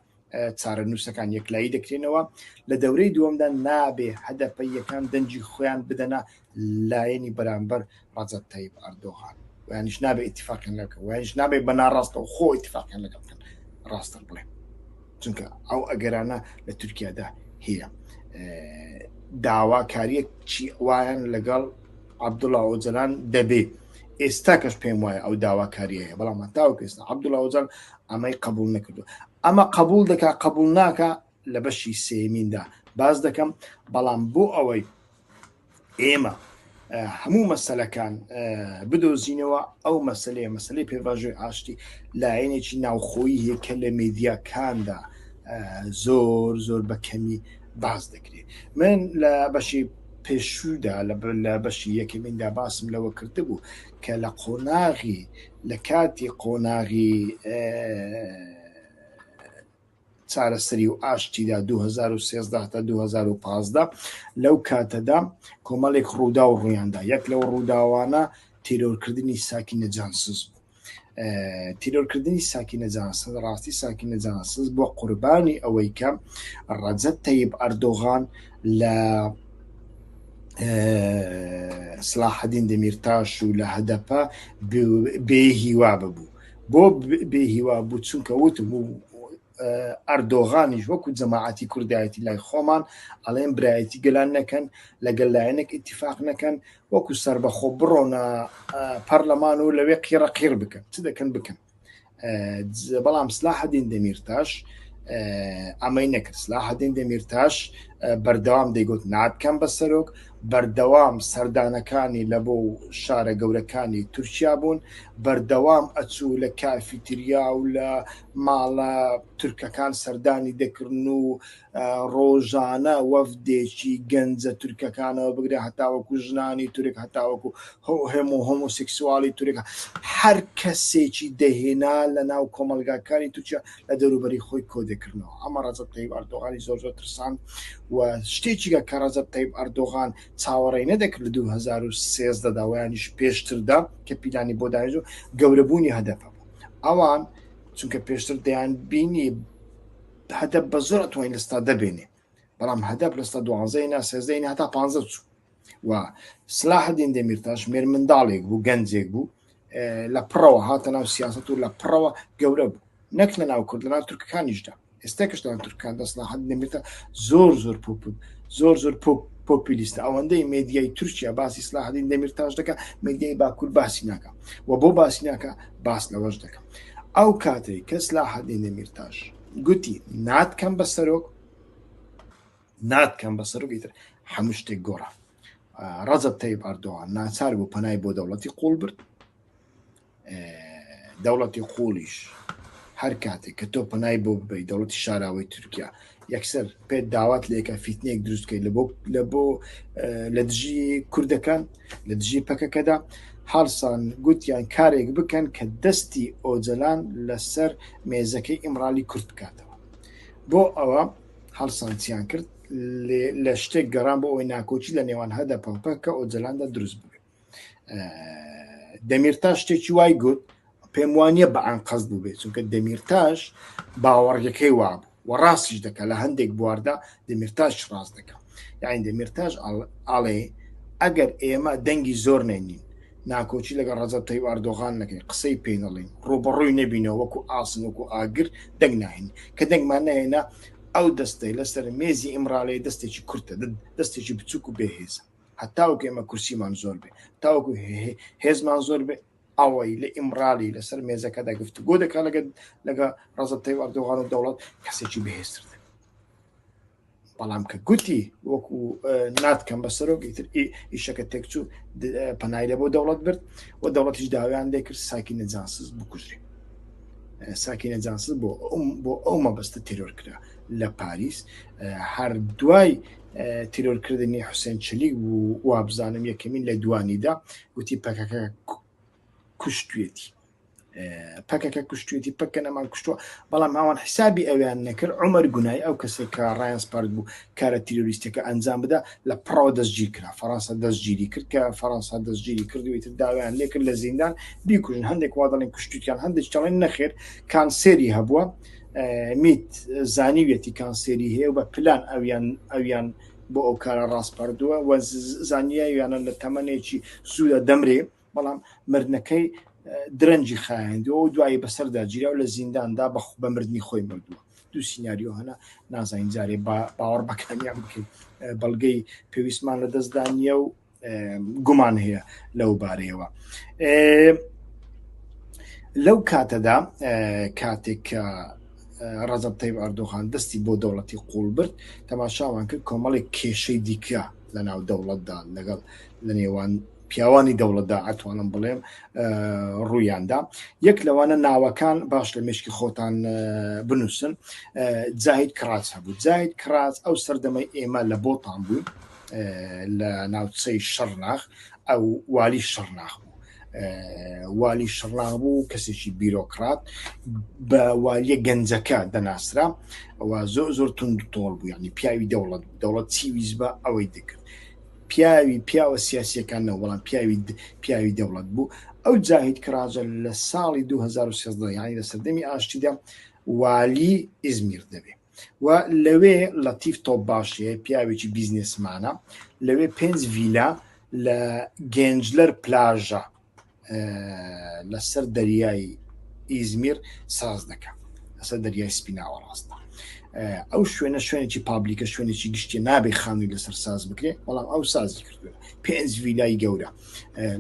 چارە نووسەکان یەکلایی دەکرێنەوە لە دەورەی دووەمدا نابێ هەدەپە یەکان دەنجی خۆیان بدەنا لایەنی بەرامبەر ڕەجەب تەیب ئەردۆغان ویانیش نابێ ئیتفاقیان لەگەڵ بکەن ویانیش نابێ بە ناڕاستەوە خۆ ئیتفاقیان لەگەڵ بکەن ڕاستە بڵێن چونکە ئەو ئەگەرانە لە تورکیادا هەیە داواکاریەک چی وایان لەگەڵ عبدوڵا ئۆجلان دەبێ ئێستا کەش پێم وایە ئەو داواکاریە هەیە بەڵام تاو پێستا عبدوڵا ئۆجان ئەمەی قبول نەکردو ئەمە قبول دەکا قبول ناکە لە بەشی سێیەمیندا باس دەکەم بەڵام بۆ ئەوەی ئێمە هەموو مەسلەکان بدۆزینەوە ئەو مەسلەیە مەسلەی پێباژۆی ئاشتی لایەنێکی ناوخۆیی هەیە کە لە مێدیاکاندا زۆر زۆر بە کەمی باز دەکرێت من لە بەشی پێشوودا لە بەشی یەکەمیندا باسم لەوە کرد بوو کە لە قۆناغی لە کاتی قۆناغی چارەسەری و ئاشتیدا، دوو هەزار و سێزدە تا دوو هەزار و پازدە، لەو کاتەدا کۆمەڵێک ڕووداو ڕوویاندا، یەک لەو ڕووداوانە تیرۆرکردنی ساکینە جانسز بوو. تیرۆرکردنی ساکینە جانسز، ڕاستی ساکینە جانسز بووە قوربانی ئەوەی کە ڕەجەب تەیب ئەردۆغان لە سلاحەدین دەمیرتاش و لە هەدەپە بێ هیوا ببوو. بۆ بێ هیوا بوو چونکە وتم و ئەردۆغانیش وەکو جەماعەتی کوردایەتی لای خۆمان ئەڵێن برایەتی گەلان نەکەن لەگەل لایەنێک اتفاق نەکەن وەکو سەر بەخۆ بڕۆنە پەرلەمان و لەوێ قیڕە قیر بکەن چ دەکەن بکەن بەڵام سلا هەدین دەمیرتاش ئەمەی نەکرد سلا هەدین دەمیرتاش بەردەوام دەیگوت ناتکەم بە سەرۆک بەردەوام سەردانەکانی لە بۆ و شارە گەورەکانی تورکیا بوون، بەردەوام ئەچوو لە کافیتریا و لە ماڵە تورکەکان سەردانی دەکرن و ڕۆژانە وەفدێکی گەنجە تورکەکانەوە بگرە هەتاوەکو ژنانی تورک هەتاوەکو هەموو هۆمۆسکسواڵی تورک هەر کەسێکی دەهێنا لە ناو کۆمەڵگاکانی تورکیا لە دەوروبەری خۆی کۆدەکردنەوە ئەمە ڕەجەب تەیب ئەردۆغانی زۆر زۆر ترساند و شتێکیگە کە ڕەجەب تەیب ئەردۆغان چاوەڕێی نەدەکرد لە 2013 دا ویانیش پێشتردا کە پیلانی بۆ داێژ و گەورەبوونی هەدەپە بوو ئەوان چونکە پێشتر دەیان بینی هەدەپ بە زۆر توانین لە ستادە بێنێ بەڵام هەدەپ لە سەد دوازدەی نا سێزدەی نا هەتا پانزە چوو و سلاحدین دەمیرتاش مێر منداڵێک بوو گەنجێک بوو لە پڕەوە هاتە ناو سیاست و لە پڕەوە گەورە بوو نەک لە ناو کورد لە ناو تورکەکانیشدا ئێستا کەشدا تورکان دەسلاحەت نمیتە زۆر زۆر پوپ زۆر زۆر پوپ پۆپیلیستە ئەوەندەی مدیای تورکیا باسی سلاحدین دەمیرتاش دەکە مدیای باکوور باسی ناکە و بۆ باسی ناکە باس لەوەش دەکەم ئەو کاتێک کەس لا حەدی نەمیرتاش گوتی ناتکەم بە سەرۆک ناتکەم بە سەرۆکی تر هەموو شتێک گۆڕە ڕەزب تەیب ئەردۆوان ناچار بوو پەنای بۆ دەوڵەتی قوڵ برد دەوڵەتی قوڵیش هەر کاتێک کە تۆ پەنای بۆ ببی دەوڵەتی شاراوەی تورکیا یەکسەر پێت داوات لێکە فیتنێک دروستکەی لە بۆ لە بۆ لە دژی کوردەکان لە دژی پەکەکەدا هەڵسان گوتیان کارێک بکەن کە دەستی ئۆجەلان لەسەر مێزەکەی ئیمرالی کورت بکاتەوە بۆ ئەوە هەڵسانسیان کرد لە شتێک گەڕان بۆ ئەوەی ناکۆچی لە نێوان هەدە پەڵپە کە ئۆجەلاندا دروست بێت دەمیرتا شتێکی وای گوت پێم وانە بە ئەنقەست بووبێت چونکە دەمیرتاش باوەڕگەکەی وابوو و ڕاستیش دەکە لە هەندێک بواردا دەمیرتاش ڕاست دەکە یاین دەمیرتاش ئاڵێ ئەگەر ئێمە دەنگی زۆر نێنین ناکۆچی لەگە ڕەزەب تەی ئاردۆغان نەکەین قسەی پێینەڵین ڕوبەڕووی نەبینەوە وەکو ئاسن وەکو ئاگر دەنگ ناهین کە دەنگمان نهێنا ئەو دەستەی لەسەر مێزی ئیمراالەیە دەستێکی کورتە دەستێکی بچووک و بێهێزە هەتاوکو ئێمە کورسیمان زۆر بێ تاوەکو هێزمان زۆر بێ ئەوەی لە ئیمڕالی لەسەر مێزەکەدا گفتوگۆ دەکات لەگەل لەگە ڕەزەب تەیب ئەردۆغان و دەوڵەت کەسێکی بەهێزتر دەبێت بەڵام کە گوتی وەکو ناتکەم بە سەرۆکی تر ئیشەکە تێکچوو پەنای لە بۆ دەوڵەت برد و دەوڵەتیش داویان دەکرد ساکی نەجانسز بکوژرێت ساکی نەجانسز بۆ بۆ ئەو مەبەستە تێرۆر کرا لە پاریس هەر دوای تیرۆرکردنی حوسێن چلی و وابزانم یەکەمین لە دوانیدا وتی پەکەکە کوشتێتی پەکەکە کوشتێتی پەکە نەمان کوشتووە بەڵام ئەوان حیسابی ئەویان نەکرد عمر گونای ئەو کەسێک کە ڕایان سپارت بوو کارە تیرۆریستەکە ئەنجام بدا لە پڕەوە دەستگیر کرا فەرەنسا دەستگیری کرد کە فەرەنسا دەستگیری کردویتر داوایان لێکرد لە زیندان بیکوژن هەندێک وا دەڵێن کوشتیان هەندێک چڵێن نەخێر کانسێری هەبووە میت زانیویەتی کانسێری هەیە و بە پلان ئەویان ئەویان بۆ ئەو کارە ڕاستپەردووە و زانیاویانە لە تەمەنێکی زوودا دەمرێ بەڵام مردنەکەی درەنجی خایەندەوە و دوایی بەسەردا جیرا و لە زینداندا بە بە مردنی خۆی مردووە دوو سینناریۆ هەنا نازانین جارێ باوەڕ بەکانیان بکەین بەڵگەی پێویستمان لە دەستدا نییە و گومان هەیە لەو بارەیەوە لەو کاتەدا کاتێک کە ڕزب تەیب ئەردۆغان دەستی بۆ دەوڵەتی قوڵ برد تەماشاوان کرد کۆمەڵێک کێشەی دیکە لە ناو دەوڵەتدا لەگەڵ لە نێوان پیاوانی دەوڵەتدا ئەتوانم بڵێم ڕوویاندا یەک لەوانە ناوەکان باش لە مشکی خۆتان بنووسن جاهید کراس هەبوو جاهید کراس ئەو سەردەمەی ئێمە لە بۆتان بوو لە ناوچەی شەڕناخ ئەو والی شەڕناخ بوو والی شەڕناخ بوو کەسێکی بیرۆکرات بە والیە گەنجەکە دەناسرا ئەوە زۆر زۆر تون تۆڵ بوو ینی پیاوی دەوڵەت دەوڵەت چی ویز بە ئەوەی دەکرد پیاوی پیاوە سیاسیەکان نەوەڵام پیاوی پیاوی دەوڵەت بوو ئەو جاهید کراجە لە ساڵی 2013 یانی لە سەردەمی ئاشتیدا والی ئزمیر دەبێت و لەوێ لەتیف تۆپ باشێ پیاوێکی بیزنێسمانە لەوێ پێنج ڤیلا لە گەنجلەر پلاژە لەسەر دەریایی ئیزمیر ساز دەکە لەسەر دەریای سپیناوە ڕاستە ئەو شوێنە شوێنێکی پابلیکە شوێنێکی گشتی نابێ خانووی لەسەر ساز بکرێ بەڵام ئەو سازی کردووە پێنج ویلای گەورە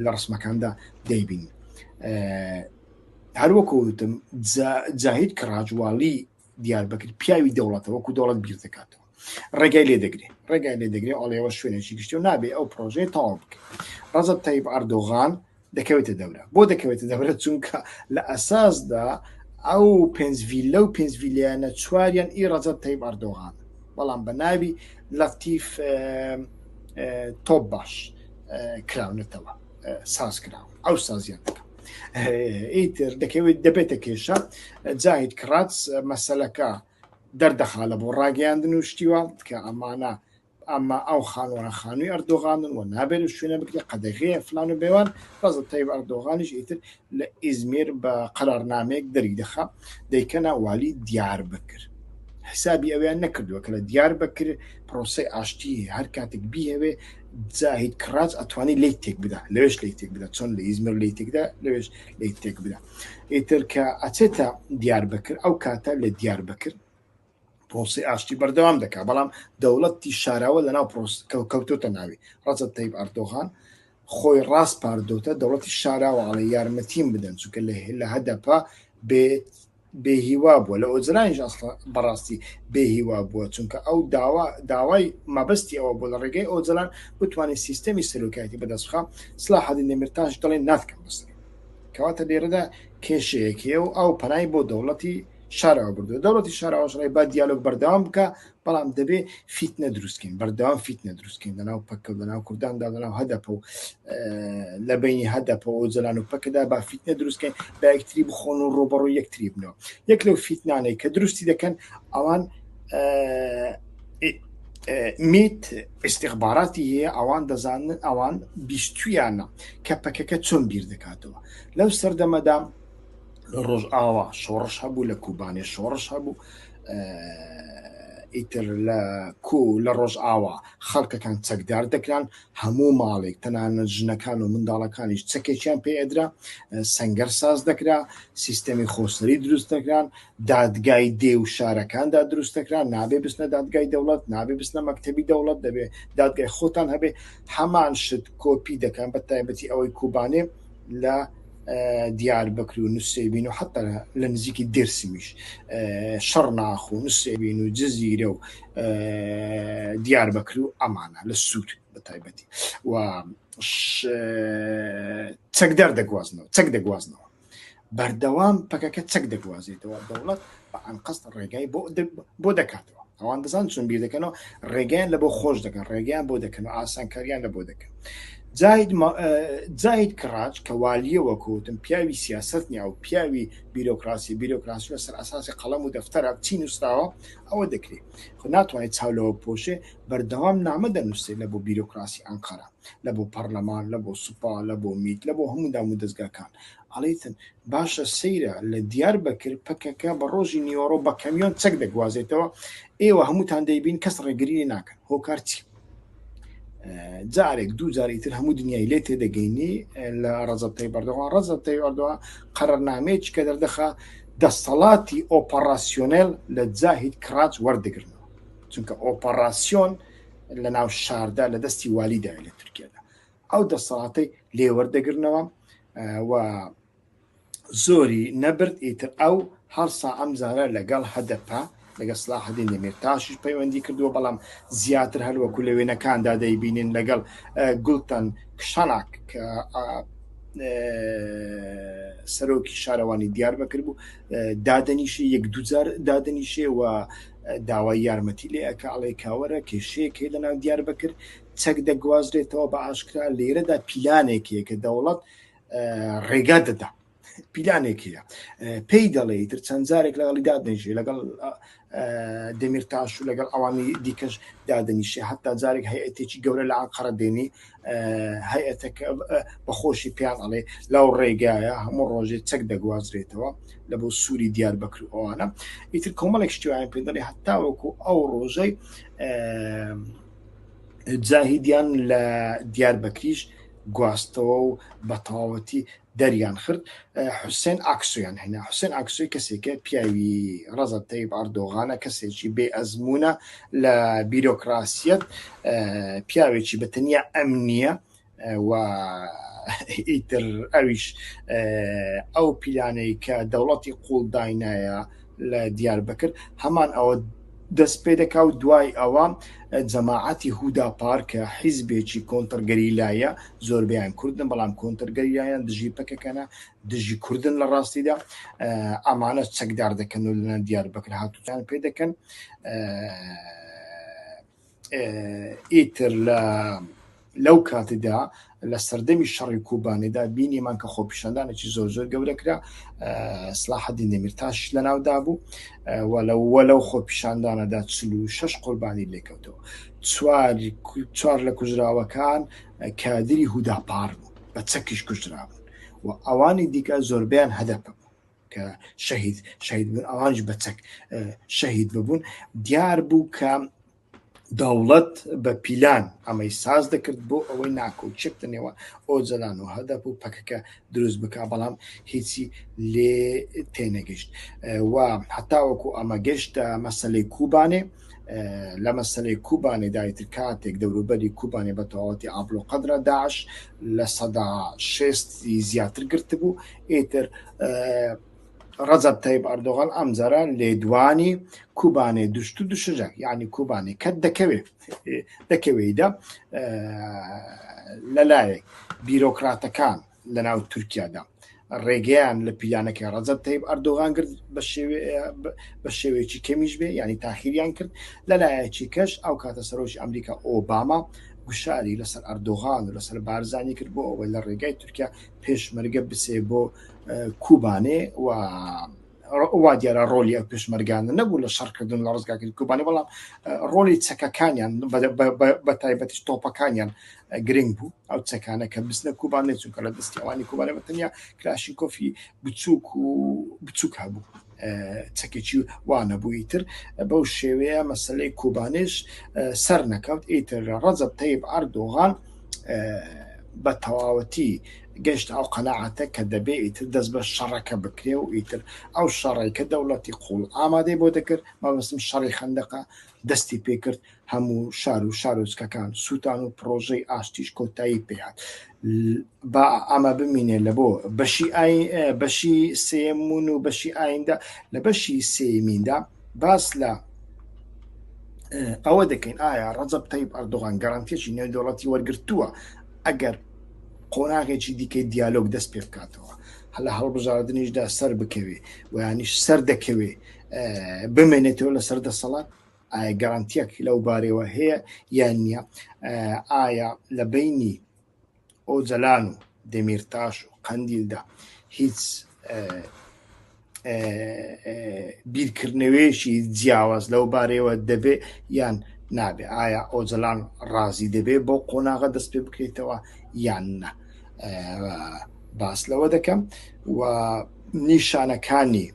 لە ڕسمەکاندا دەیبین هەروەکوتم جاهید کڕاجواڵی دیاربکر پیاوی دەوڵەتە وەکو دەوڵەت بیر دەکاتەوە ڕێگای لێ دەگرێت ڕێگای لێ دەگرێ ئەڵێەوە شوێنێکی گشتی و نابێ ئەو پرۆژەی تاوا بکە ڕزە تایب ئەردۆغان دەکەوێتە دەورە بۆ دەکەوێتە دەورە چونکە لە ئەساسدا ئەو پێنجڤیل لەو پێنجڤیلیانە چواریان ئی ڕزە تایب ئەردۆغان بەڵام بە ناوی لەفتیف تۆپ باش کراونەتەوە ساز کراوە ئەو سازیان دەکەم ئیتر دەکەوێت دەبێتە کێشە جاهیت کڕات مەسلەکە دەردەخا لە بۆ ڕاگەیاندن و شتیوە کە ئەمانە ئەمە ئەو خانوان خانووی ئەردۆغانن و نابێت و شوێنە بکرێ قەدەغەیە فلان و بێوان ڕزە تایب ئەردۆغانیش ئیتر لە ئیزمیر بە قەرارنامەیەک دەری دەخا دەیکەنا والی دیار بکرد حسابی ئەویان نەکردووە کە لە دیار بەکر پرۆسی ئاشتی هەر کاتێک بیهوێ زاهید کڕاج ئەتوانی لی تێک بدا لەوێش لی تێک بدا چۆن لە ئیزمر لی تێکدا لەوێش لی تێک بدا ئیتر کە ئەچێتە دیار بکرد ئەو کاتە لە دیار بکرد پرۆسی ئاشتی بەردەوام دەکا بەڵام دەوڵەتی شاراوە لە ناو پرۆس کەوتۆتە ناوی ڕەجە تەیب ئەردۆغان خۆی ڕاست پاردۆتە دەوڵەتی شاراوە ئەڵێ یارمەتیم بدەن چونکە لە هێلا هەدەپە بێت بێ هیوا بووە لە ئۆجرانیش ئەسڵە بەڕاستی بێ هیوا بووە چونکە ئەو داوا داوای مەبەستی ئەوە بۆ لە ڕێگەی ئۆجلان بتوانێت سیستەمی سەرۆکایەتی بەدەستخە سلا حەدی نەمرتاش دڵێن ناتکەم بەسەر کەواتە لێرەدا کێشەیەکێ و ئەو پەنای بۆ دەوڵەتی شارەوە بردو دەوڵەتی شارەوەشڕێ با دیالۆک بەردەوام بکە بەڵام دەبێ فیتنە دروستکەین بەردەوام فیتنە دروستکەین لەناو پەکە لەناو کورداندا لەناو هەدەپە و لە بینی هەدەپە و جلان و پەکەدا با فیتنە دروستکەین با یەکتری بخۆن و ڕۆبەڕۆ یەکتری بنەوە یەک لەو فیتنانەی کە دروستی دەکەن ئەوان میت استخباراتی هەیە ئەوان دەزانن ئەوان بیستویانە کە پەکەکە چۆن بیر دەکاتەوە لەو سەردەمەدا ڕۆژ ئاوا شۆڕش هەبوو لە کوبانێ شۆڕش هەبوو ئیتر لە کو لە ڕۆژئاوا خەڵکەکان چەکدار دەکران هەموو ماڵێک تەنانە ژنەکان و منداڵەکانیش چەکێکیان پێ ئەدرا سنگەر ساز دەکرا سیستەمی خۆسەری دروست دەکران دادگای دێ و شارەکاندا دروست دەکران نابێ بستە دادگای دەوڵەت نابێ بستە مەکتتەبی دەوڵەت دەبێ دادگای خۆتان هەبێ هەمان شت کۆپی دەکەن بە تایبەتی ئەوەی کوبانێ لە دیار بکر و نووسێبین و حتا لە نزیکی درسمیش شەڕ ناخ و نووسێبین و جززیرە و دیار بکر و ئەمانە لە سوود بە تایبەتی و چەکدار دەگوازنەوە چەک دەگوازنەوە بەردەوام پەکەکە چەک دەگوازێتەوە دەوڵەت بە ئەنقەست ڕێگای بۆ بۆ دەکاتەوە ئەوان دەزان چون بیر دەکەنەوە ڕێگەیان لە بۆ خۆش دەکەن ڕێگەیان بۆ دەکەن و ئاسانکاریان لە بۆ دەکەن جاید کڕاج کە والیەوە کەوتن پیاوی سیاست نیا و پیاوی بیرۆکراسی بیرۆکراسی لەسەر ئاساسی قەڵەم و دەفتەرە چی نووسراوە ئەوە دەکرێت خو ناتوانێت چاولەوە پۆشێ بەردەوام نامە دەنووسێ لە بۆ بیرۆکراسی ئەنقەرە لە بۆ پەرلەمان لە بۆ سوپا لە بۆ میت لە بۆ هەموو دام و دەستگاکان ئەڵیتن، باشە سەیرە لە دیار بەکر پەکەکە بە ڕۆژی نیوەڕۆ بە کەمیۆن چەک دەگوازێتەوە، ئێوە هەمووتان دەیبین کەس ڕێگری لێ ناکەن، هۆکار چیە؟ جارێک دوو جاری تر هەموو دنیای لێ تێدەگەینی لە ڕەزەب تەیب ئەردۆغان ڕەزەب تەیب ئەردۆغان قەرەرنامەیەکی کە دەردەخا دەسەڵاتی ئۆپەڕاسیۆنێل لە جاهید کراج وەردەگرنەوە چونکە ئۆپەڕاسیۆن لە ناو شاردا لە دەستی والیدا لە تورکیادا ئەو دەسەڵاتی لێوەردەگرنەوە و زۆری نەبرد ئیتر ئەو هەڵسا ئەم زارە لەگەڵ هەدەپە لەگە سلاحدین دەمێرتاشیش پەیوەندی کردووە بەڵام زیاتر هەروەکو لە وێنەکاندا دەیبینین لەگەڵ گوڵتەن کشاناک کە سەرۆکی شارەوانی دیار بەکرد بوو دادنیشی یەک دوجار دادنیشێ و داوای یارمەتی لێ ئەکە ئەڵێ کاوەرە کێشەیەک هەیە لە ناو دیار بەکرد چەک دەگوازرێتەوە بە ئاشکرا لێرەدا پیلانێکەیە کە دەوڵەت ڕێگا دەدا پیلانێک هەیە پێی دەڵێ تر چەند جارێک لەگەڵی دادنیژێ لەگەڵ دەمیرتاش و لەگەڵ ئەوانی دیکەش دادنیشێ هەتا جارێک هەیەتێکی گەورە لە ئاقڕە دێنی هەیەتەکە بەخۆشی پێیان ئەڵێ لەو ڕێگایە هەموو ڕۆژێ چەک دەگوازرێتەوە لە بۆ سووری دیار بکرەوەوانە ئیتر کۆمەڵێک شتیوان پێ دەڵێ هەتاوەکو ئەو ڕۆژەی زاهیدیان لە دیار بەکریش گواستەوە و بە تەواوەتی دەریان خرد حوسێن ئاکسویان هێنا حوسێن ئاکسوی کەسێکە پیاوی ڕەزە تەیب ئەردۆغانە کەسێکی بێ ئەزمونە لە بیرۆکراسیەت پیاوێکی بە تەنیا ئەم نییە و ئیتر ئەویش ئەو پیلانەی کە دەوڵەتی قوڵ داینایە لە دیار بکرد هەمان ئەوە دەست پێ دەکا و دوای ئەوە جەماعەتی هودا پارکە حیزبێکی کۆنتەرگەری لایە زۆربیان کوردن بەڵام کۆنتەرگەریان دژی پکەکەنە دژی کوردن لە ڕاستیدا ئەمانە چەکدار دەکەن و لەنان دیار بکر هاتوچان پێ دەکەن ئیتر لە لەو کاتیدا لە سەردەمی شەڕی کوبانیدا بینیمان کە خۆپیشاندانێکی زۆر زۆر گەورەکرا سلاحدی نەمیرتاش لە ناودا بوو وەلەوە لەو خۆپیشاندانەدا چل و شش قوربانی لێکەوتەوە چوار لە کوژراوەکان کادری هوداپار بوو بە چەکیش کوژرابوون و ئەوانی دیکە زۆربیان هەدەپە بوو کە شەهید شەهید بوون ئەوانش بە چەک شەهید ببوون دیار بوو کە دەوڵەت بە پیلان ئەمەی ساز دەکرد بۆ ئەوەی ناکۆچێک دەنێەوە ئۆجلان و هەدەپ و پەکەکە دروست بک بەڵام هیچی لێ تێنەگەشت و هەتاوەکو ئەمە گەشتە مەسلەی کوبانێ لە مەسلەی کوبانێ دایتر کاتێک دەوروبەری کوبانێ بە تەواوەتی ئابلۆ قەدرە داش لە سەدا شێستی زیاتر گرتبوو ئیتر ڕەزەب تەیب ئەردۆغان ئەمجارە لێدوانی کوبانێ دوشت و دوشجە یعنی کوبانی کەت دەکەوێت دەکەوێیدا لەلایەک بیرۆکراتەکان لە ناو تورکیادا ڕێگەیان لە پیلانەکەی ڕەزەب تەیب ئەردۆغان کرد بە شێوەیەکی کەمیش بێ ینی تاخیریان کرد لەلایەکی کەش ئەو کاتە سەرۆکی ئەمریکا ئۆباما گوشاری لەسەر ئەردۆغان و لەسەر بارزانانی کرد بۆ ئەوە لە ڕێگای تورکیا پێشمەرگە بچێ بۆ کوبانێ و وا دیارە ڕۆلی ئەو پێشمەرگانە نەبوو لە شەڕکردن لە ڕزگاکرد کوبانە بەڵام ڕۆلی چەکەکانیان بە تایبەتش تۆپەکانیان گرنگ بوو ئەو چەکانە کە بستە کوبانێ چونکە لە دەستیوانی کوبانە بەتەنیا کراشی کۆفی بچووک و بچووک هەبوو چەکێکی وانەبوو ئیتر بەو شێوەیە مەسلەی کوبانێش سەر نەکەوت ئیتر ڕەزب تەیب ئەردۆغان بە تەواوەتی گەشت ئەو قەنەعاتە کە دەبێ ئیتر دەست بە شەڕەکە بکرێ و ئیتر ئەو شەڕێکە دەوڵەتی قوڵ ئامادەی بۆ دەکرد مەبستم شەڕی خندەقە دەستی پێکرد هەموو شار و شارۆچکەکان سووتان و پڕۆژەی ئاشتیش کۆتایی پێهات با ئەمە بمینێ لە بۆ بەشی بەشی سێمون و بەشی ئایندە لە بەشی سێمیندا باس لە ئەوە دەکەین ئایا ڕەجب تەیب ئەردۆغان گەڕانتێکی نێودوڵەتی وەرگتووە ئەگەر قۆناغێکی دیکەی دیالۆگ دەست پێ بکاتەوە هەلا هەڵبژاردنیشدا سەر بکەوێ ویانیش سەر دەکەوێ بمێنێتەوە لەسەر دەسەڵات ئایا گەرانتیەک لەو بارەوە هەیە یان نییە ئایا لە بینی ئۆجەلان و دەمیرتاش و قەندیلدا هیچ بیرکردنەوەیەکی جیاواز لەو بارەوە دەبێ یان نابێ ئایا ئۆجەلان ڕازی دەبێ بۆ قۆناغە دەست پێ بکرێتەوە یان نە باس لەوە دەکەم و نیشانەکانی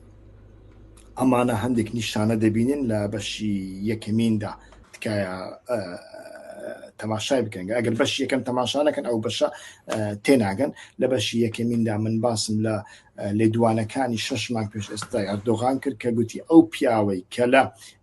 ئەمانە هەندێک نیشانە دەبینن لە بەشی یەکەمیندا تکایە تەماشای بکەن ئەگەر بەش یەکەم تەماشانەکەن ئەو بەشە تێناگەن لە بەشی یەکەمیندا من باسم لە لێدوانەکانی شش مانگ پێش ئێستا ئەردۆغان کرد کە گوتی ئەو پیاوەی کە لە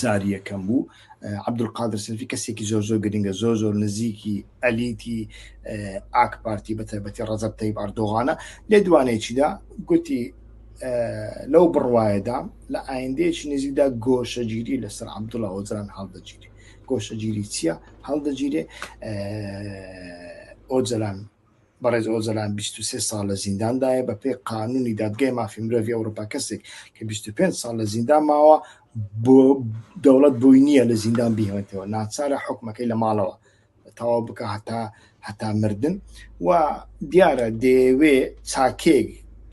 جاری یەکەم بوو عبدول قادر سەلفی کەسێکی زۆر زۆر گرنگە زۆر زۆر نزیکی ئەلیتی ئاک پارتی بە تایبەتی ڕەزەب تەیب ئەردۆغانە لێ دوانێکیدا گوتی لەو بڕواایەدا لە ئایندەیەکی نزیکدا گۆشەگیری لەسەر عبدوڵە ئۆجران هەڵدەگیری گۆشەگیری چییە هەڵدەگیرێ ئۆجلان بەڕێز ئۆجەلان بیست و سێ ساڵ لە زینداندایە، بەپێی قانوونی دادگای مافی مرۆڤی ئەوروپا کەسێک کە بیست و پێنج ساڵ لە زیندان ماوە بۆ دەوڵەت بۆی نییە لە زیندان بیهێنێتەوە ناچارە حکومەکەی لە ماڵەوە تەواو بکە هەتا هەتا مردن و دیارە دەیەوێ چاکێک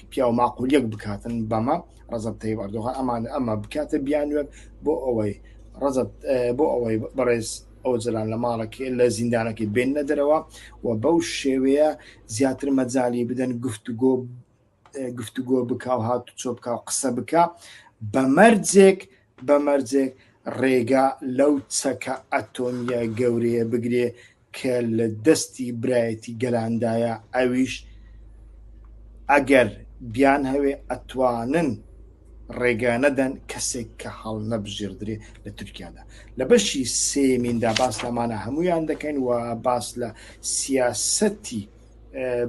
پیاو ماقولیەک بکاتن بەمە ڕزب تەیب ئەردۆغان ئەمان ئەمە بکاتە بیانوێت بۆ ئەوەی ڕزب بۆ ئەوەی بەڕێز ئۆجەلان لە ماڵەکەی لە زیندانەکەی بێننە دەرەوە و بەو شێوەیە زیاتر مەجای بدەن گفتوگۆ گفتوگۆ بکە و هات چۆ بکە و قسە بکە بە مەرجێک بە مەرجێک ڕێگا لەو چەکە ئەتۆمیە گەورەیە بگرێ کە لە دەستی برایەتی گەلاندایە ئەویش ئەگەر بیان هەوێ ئەتوانن ڕێگا نەدەن کەسێک کە هەڵ نەبژێردرێ لە تورکیادا لە بەشی سێمیندا باس لەمانە هەمویان دەکەین و باس لە سیاسەتی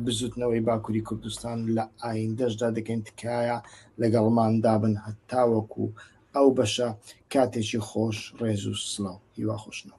بزوتنەوەی باکووری کوردستان لە ئایندەشدا دەکەین تکایە لەگەڵماندا بن هەتاوەکو ئەو بەشە کاتێکی خۆش ڕێز و سلااو هیوا خۆشنەوە